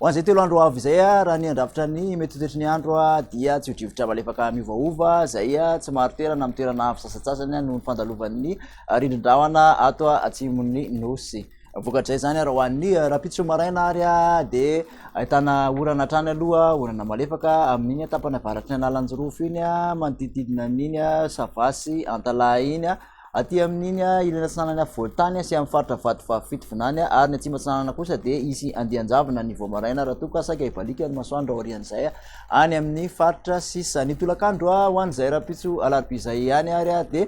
Ho an'izay telo andro ho avy izay, raha ny handrafitra ny mety ho toetry ny andro dia tsy ho drivotra malefaka miovaova izay tsy marin-toerana amin'ny toerana avo sasantsasany noho ny fandalovan'ny rindrin-drahona ato atsimon'ny nosy. Vokatrizay izany ary ho an'ny rahampitso maraina ary dia ahitana orana hatrany aloha, orana malefaka amin'iny tapany avaratry ny analanjirofo iny manodidididina an'iny sava sy antalaha iny. Aty amin'iny ilany atsinanan'ny afovoan-tany sy amin'ny faritra Vatovavy Fitovinany ary ny atsimo atsinanana kosa dia hisy andian-javona ny vao maraina raha toa ka saika hibaliaka ny masoandro aorian'izay any amin'ny faritra sisa. Ny tolakandro ho an'izay rahampitso alarobia izay ihany ary dia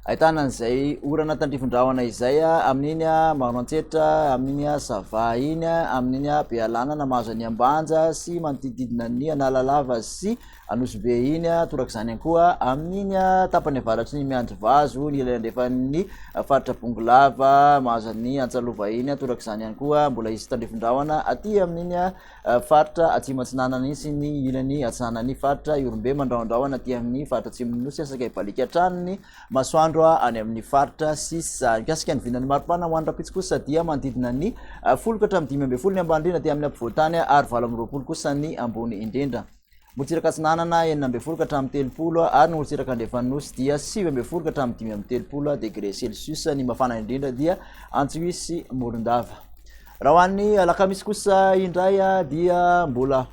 ahitana an'izay orana tandrifin-drahona izay amin'iny Maroantsetra, amin'iny Sava iny, amin'iny Bealanana, Mahazaniambanja sy manodidididina ny Analalava sy. Anosibe iny, toraka izany ihany koa amin'iny tapany avaratry ny Miandrivazo, ny ilany andrefan'ny faritra Bongolava, Mahazan'ny Antsalova iny, toraka izany ihany koa mbola izy Tandrifindrahona, aty amin'iny faritra Atsimo Atsinanana iny sy ny ilany atsinanan'ny faritra Ihorombe, Mandrahondrahona aty amin'ny faritra Atsimon'ny Nosy, saika hibaliaka hatrany ny masoandro any amin'ny faritra sisa. Mikasika ny vinan'ny maripana ho an'ny rahampitso kosa dia manodidina ny folo ka hatramin'ny dimy ambin'ny folo ny ambany indrindra aty amin'ny ampovoan-tany ary valo amby roapolo kosa ny ambony indrindra. Morontsiraka Atsinanana, enina ambin'ny folo ka hatramin'ny telopolo, ary ny morontsiraka Andrefan'ny Nosy dia sivy ambin'ny folo ka hatramin'ny dimy amby telopolo degré Celsius. Ny mafana indrindra dia Antsohihy sy Morondava. Raha ho an'ny alakamisy kosa indray dia mbola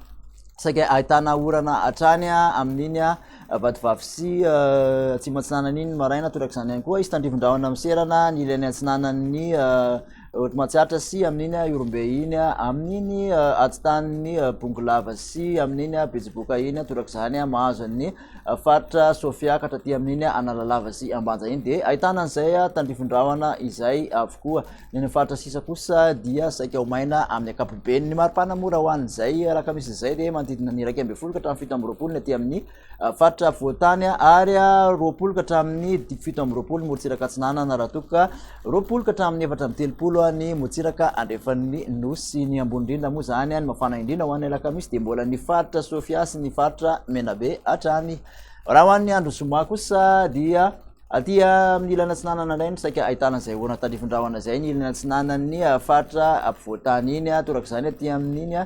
saika ahitana orana hatrany amin'iny vatovavy sy eh, atsimo atsinanana iny maraina torak'izany ihany koa izy tandrivon-drahona miserana ny ilany atsinanan'ny eh, Ohatry matsiatra sy amin'iny Ihorombe iny, amin'iny Atsitan'ny Bongolava sy amin'iny Betsiboka iny, torak'izany mahazo an'ny faritra Sofia ka hatraty amin'iny Analalava sy Ambanja iny dia ahitana an'izay tandrifin-drahona izay avokoa. Ny any amin'ny faritra sisa kosa dia saika ho maina amin'ny ankapobeny. Ny maripana mora ho an'izay alakamisy izay dia manodidina ny iraika ambin'ny folo ka hatramin'ny fito amby roapolo ny aty amin'ny faritra voatany ary roapolo ka hatramin'ny fito amby roapolo ny morontsiraka atsinanana raha toa ka roapolo ka hatramin'ny efatra amby telopolo ny morontsiraka andrefan'ny nosy ny ambony indrindra moa izany ny mafana indrindra ho an'ny alakamisy dia mbola ny faritra sofia sy ny faritra menabe hatrany raha ho an'ny andro zoma kosa dia Aty amin'ny ilany atsinanana indray no saika ahitana izay orana tandrifin-drahona izay, ny ilany atsinanan'ny faritra ampovoan-tany iny, toraka izany aty amin'iny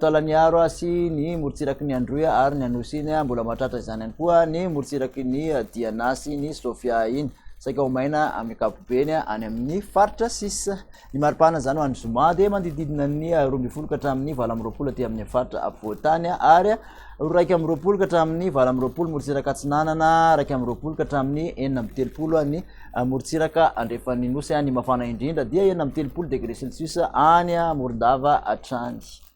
Taolagnaro sy ny morontsiraky ny Androy ary ny Anosy iny, mbola mahatratra izany ihany koa ny morontsiraky ny Diana sy ny Sofia iny, saika ho maina amin'ny ankapobeny any amin'ny faritra sisa. Ny maripana izany ho any zoma dia mandidididina ny roa ambin'ny folo ka hatramin'ny valo amby roapolo aty amin'ny faritra afovoan-tany ary raika amby roapolo ka hatramin'ny valo amby roapolo morontsiraka atsinanana raika amby roapolo ka hatramin'ny enina amby telopolo any morontsiraka andrefan'ny nosy any mafana indrindra dia enina amby telopolo degré celsius any morondava hatrany